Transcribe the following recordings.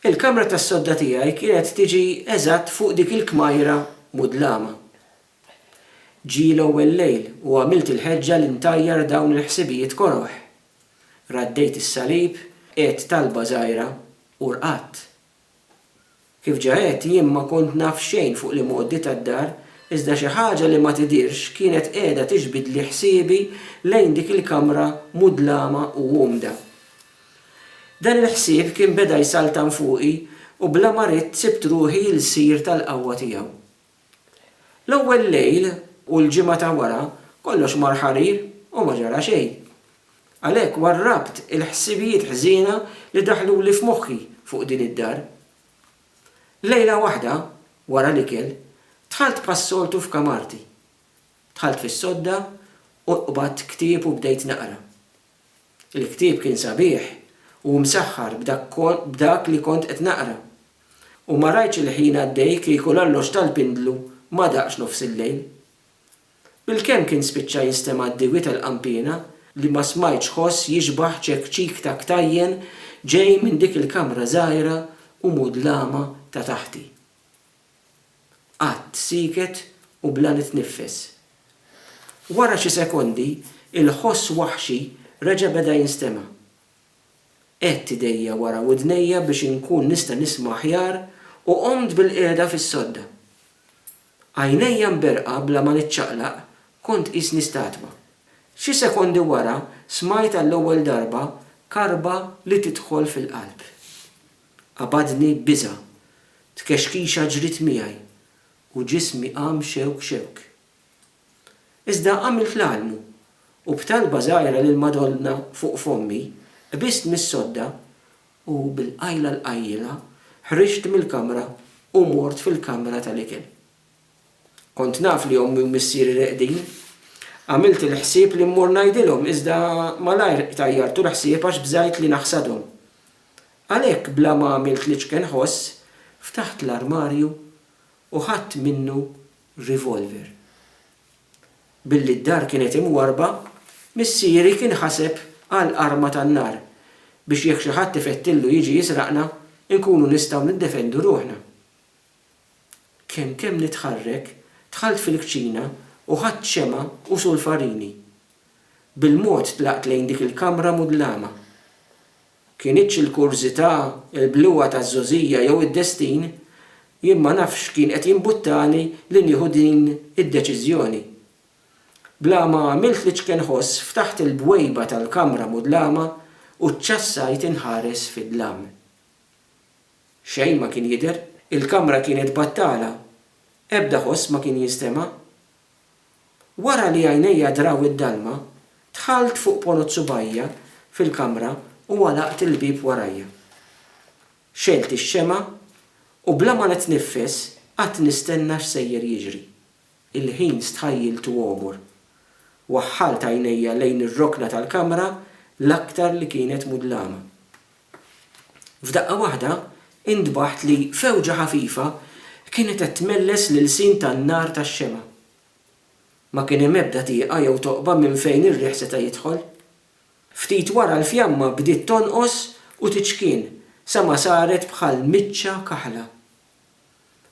Il-kamra tas-sodda tiegħi kienet tiġi eżatt fuq dik il-kmajra mudlama. Ġie l-ewwel lejl u għamilt il-ħeġġa li ntajjar dawn il-ħsibijiet koroh. Raddejt is-salib, għedt talba żgħira u rqadt. Kif ġa għedt, jien ma kont naf xejn fuq l-imgħoddi tad-dar, iżda xi ħaġa li ma tidhirx kienet qiegħda tiġbidli ħsiebi lejn dik il-kamra mudlama u umda. Dan il-ħsieb kien beda jsaltan fuqi u bla ma ridt sibt ruħi l-sir tal-qawwa tiegħu. L-ewwel lejl u l-ġimgħa ta' wara kollox mar ħarir u ma ġara xejn. Għalhekk warrabt il-ħsibijiet ħżiena li daħluli f'moħħi fuq din id-dar. Lejla waħda, wara l-ikel, dħalt bħas-soltu f'kamarti. Dħalt fis-sodda u qbadt ktieb u bdejt naqra. Il-ktieb kien sabiħ u msaħħar b'dak li kont qed naqra, u ma rajtx il-ħin għaddej kieku l-alloġġ tal-pindlu ma daqx nofs il-lejl. Bilkemm kien spiċċa jinstema' d-diwi tal-qanpiena li ma smajtx ħoss jixbah ċekċik ta' ktajjen ġej minn dik il-kamra żgħira u mudlama ta' taħti. Qgħadt sieket u bla nitniffes. Wara xi sekondi, il-ħoss waħxi reġa' beda jinstema'. Għedt idejja wara widnejja biex inkun nista' nisma' aħjar u qomt bilqiegħda fis-sodda. Għajnejja mberqa bla ma niċċaqlaq, kont qisni statwa. Xi sekondi wara smajt għall-ewwel darba karba li tidħol fil-qalb. Qabadni biża', tkexkixa ġriet miegħi u ġismi qam xewk xewk. Iżda għamilt l-almu u b'talba żgħira lill-Madonna fuq fommi, qbist mis-sodda u bil-qajla l-qajjilha ħriġt mill-kamra u mort fil-kamra tal-ikel. Kont naf li ommi u missieri reqdin. Għamilt il-ħsieb li mmur ngħidilhom iżda malajr tajjart u l-ħsieb għax bżajt li naħsadhom. Għalhekk bla ma għamilt l-iċken ħoss, ftaħt l-armarju u ħadt minnu rivolver. Billi d-dar kienet imwarrba, missieri kien ħaseb għal arma tan-nar biex jekk xi ħadd ifettillu jiġi jisraqna, inkunu nistgħu niddefendu ruħna. Kemm kemm nitħarrek, dħalt fil-kċina u ħadt xemgħa u sulfarini. Bil-mod tlaqt lejn dik il-kamra mudlama. Kinitx il-kurżità, il-bluha taż-żgħożija jew id-destin, jien ma nafx x'kien qed jimbuttani li nieħu din id-deċiżjoni. Bla ma għamilt l-iċken ħoss ftaħt il-bwejba tal-kamra mudlama u ċċassajt inħares fid-dlam. Xejn ma kien jidher. Il-kamra kienet battala. Ebda ħoss ma kien jinstema'. Wara li għajnejja draw id-dalma, dħalt fuq ponot subgħajja fil-kamra u għalaqt il-bieb warajja. Xegħelt ix-xemgħa u bla ma nitniffes qgħadt nistenna x'sejjer jiġri. Il-ħin stħajjiltu għomor. Waħħalt għajnejja lejn ir-rokna tal-kamra l-aktar li kienet mudlama. F'daqqa waħda intbaħt li fewġa ħafifa kienet qed tmelles l-ilsien tan-nar tax-xemgħa. Ma kien hemm ebda tieqa jew toqba minn fejn ir-riħ seta' jidħol. Ftit wara l-fjamma bdiet tonqos u tiċkien sa ma saret bħal miċċa kaħla.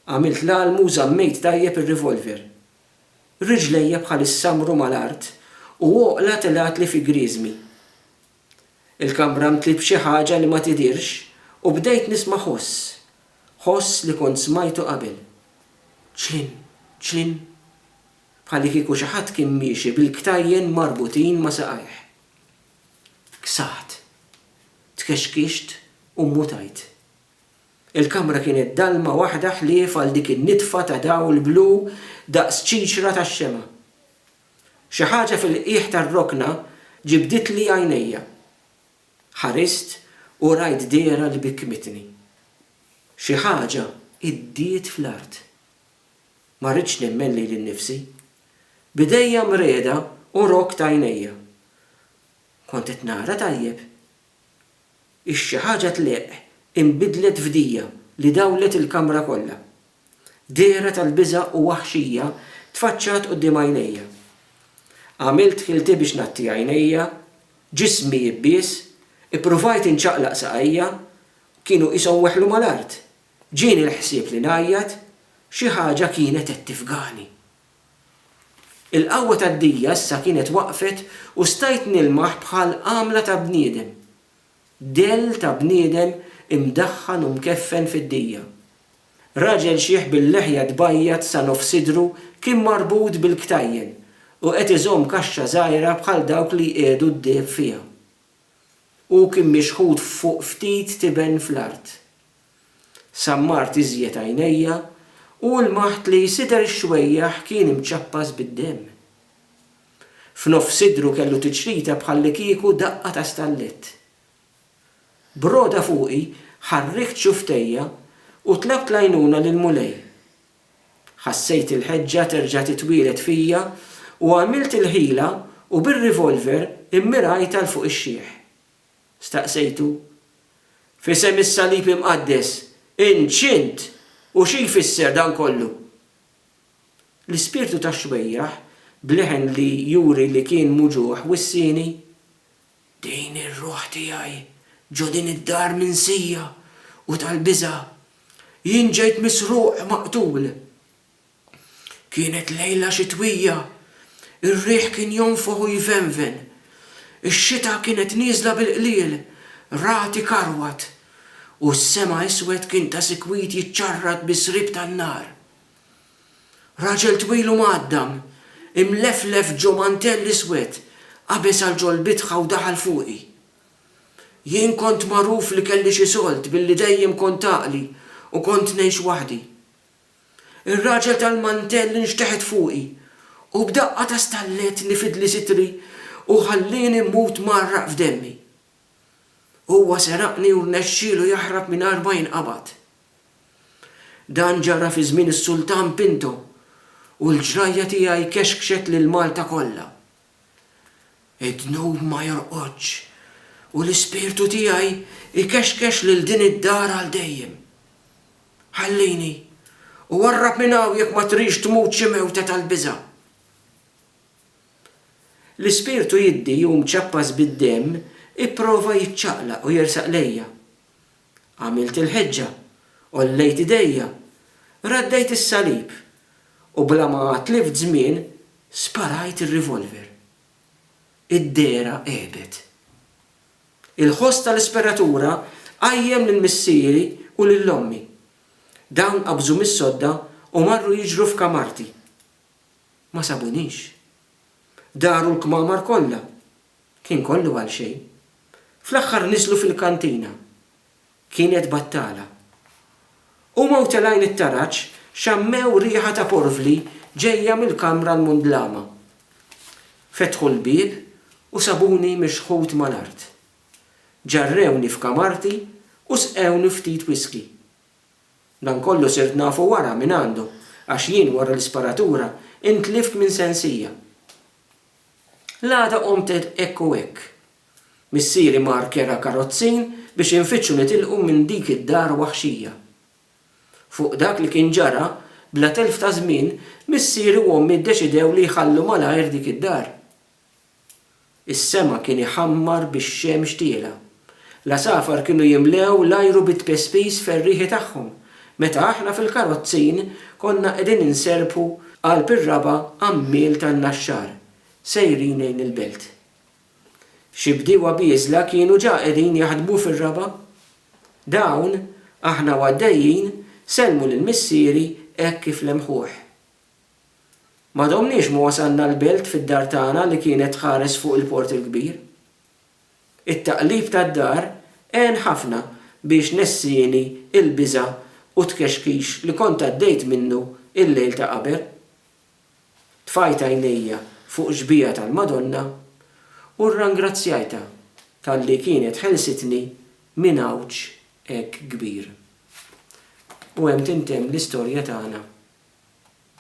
Għamilt l-għalmu u żammejt tajjeb ir-revolver. Riġlejja bħalissa mru mal-art u għoqla telgħatli fi grieżmi. Il-kamra mtliet b'xi ħaġa li ma tidhirx u bdejt nisma' ħoss. Ħoss li kont smajtu qabel. Ċlin, ċlin. Bħalikieku xi ħadd kien miexi bil-ktajjen marbutin ma' saqajh. Ksaħt. Tkexkixt u mmutajt. Il-kamra kienet dalma waħda ħlief għal dik in-nitfa ta' dawl blu daqs ċiċra tax-xemgħa. Xi ħaġa fil-qiegħ tar-rokna ġibditli għajnejja. Ħarist u rajt dehra li bikkmitni. Xi ħaġa iddiet fl-art. Ma ridtx nemmen lili nnifsi. B'idejja mreda u rokkt għajnejja. Kont qed nara tajjeb? Ix xi ħaġa tleqq inbidlet f'dija li dawlet il-kamra kollha. Dehra tal-biża' u waħxija tfaċċat quddiem għajnejja. Għamilt ħilti biex ngħatti għajnejja, ġismi jibbies, ippruvajt inċaqlaq saqajja, kienu qishom weħlu mal-art. Ġieni l-ħsieb li ngħajjat, xi ħaġa kienet qed tifgani. Il-qawwa tad-dija issa kienet waqfet u stajt nilmaħ bħal għamla ta' bniedem. Dell ta' bniedem imdaħħan u mkeffen fid-dija. Raġel xiħ bil-leħja tbajjad sa nofs sidru kien marbut bil-ktajjen u qed iżomm kaxxa żgħira bħal dawk li jqiegħdu d-deheb fiha. Hu kien mixħut fuq ftit tiben fl-art. Sammart iżjed għajnejja u lmaħt li sider ix-xwejjaħ kien imċappas bid-demm. F'nofs sidru kellu tiċrita bħallikieku daqqa ta' stallett. B'rogħda fuqi ħarrikt xufftejja u tlabt l-għajnuna lill-Mulej. Ħassejt il-ħeġġa terġa' titwieled fija u għamilt il-ħila u bir-revolver immirajtha 'l fuq ix-xiħ. Staqsejtu. F'isem is-Salib Imqaddes, int x'int u xi jfisser dan kollu? L-ispirtu tax-xbejjaħ, b'leħen li juri li kien muġugħ, wissieni, Din ir-ruħ tiegħi ġo din id-dar minsija u tal-biża'. Jien ġejt misruq, maqtul. Kienet lejla xitwija. Ir-riħ kien jonfoħ u jvenven. Ix-xita kienet nieżla bil-qliel, ragħti karwat, u s-sema iswed kien ta' sikwit jiċċarrat bi sriep tan-nar. Raġel twil u mgħaddam, imleflef ġo mantell iswed, qabeż għal ġo l-bitħa u daħal fuqi. Jien kont magħruf li kelli xi solt billi dejjem kont għaqli u kont ngħix waħdi. Ir-raġel tal-mantell inxteħet fuqi u b'daqqa ta' stallett li fidli sitri u ħallieni mmut mgħarraq f'demmi. Huwa seraqni u rnexxielu jaħrab mingħajr ma jinqabad. Dan ġara fi żmien is-Sultan Pinto u l-ġrajja tiegħi kexkxet lil Malta kollha. Id-dnub ma jorqodx, u l-ispirtu tiegħi jkexkex lil din id-dar għal dejjem. Ħallini, u warrab minn hawn jekk ma tridx tmut xi mewta tal-biża'. L-ispirtu jiddi u mċappas bid-demm ipprova jiċċaqlaq u jersaq lejja. Għamilt il-ħeġġa, għollejt idejja, raddejt is-salib, u bla ma tlift żmien sparajt ir-revolver. Id-dehra għebet. Il-ħoss tal-isperatura qajjem lil missieri u lil ommi. Dawn qabżu mis-sodda u marru jiġru f'kamarti. Ma sabunix. Daru l-kmamar kollha, Kien kollu għal xejn. Fl-aħħar niżlu fil-kantina. Kienet battala. Huma u telgħin it-taraġ xammew riħa ta' porvli ġejja mill-kamra l-mundlama. Fetħu l-bieb u sabuni mixħut mal-art. Ġarrewni f'kamarti u sqewni ftit whiskey. Dan kollu sirt nafu wara mingħandu għax jien wara l-isparatura intlift minn sensija. L-għada qomt għedt hekk u hekk. Missieri mar kera karozzin biex infittxu nitilqu minn dik id-dar waħxija. Fuq dak li kien ġara, bla telf ta' żmien, missieri u ommi ddeċidew li jħallu malajr dik id-dar. Is-sema kien iħammar bix-xemx tiela'. L-għasafar kienu jimlew l-ajru bit-tpispiż ferrieħi tagħhom meta aħna fil-karozzin konna qegħdin inserrpu qalb ir-raba' għammiel tan-Naxxar sejrin lejn il-belt. Xi bdiewa bieżla kienu ġa qegħdin jaħdmu fir-raba'. Dawn, aħna u għaddejjin, sellmu lil missieri hekk kif lemħuh. Ma domniex ma wasalna l-belt fid-dar tagħna li kienet tħares fuq il-Port il-Kbir. It-taqlib tad-dar għen ħafna biex nessieni l-biża' u t-tkexkix li kont għaddejt minnu l-lejl ta' qabel. Tfajt għajnejja fuq xbieha tal-Madonna u rrangrazzjajtha talli kienet ħelsitni minn għawġ hekk kbir. U hemm tintemm l-istorja tagħna.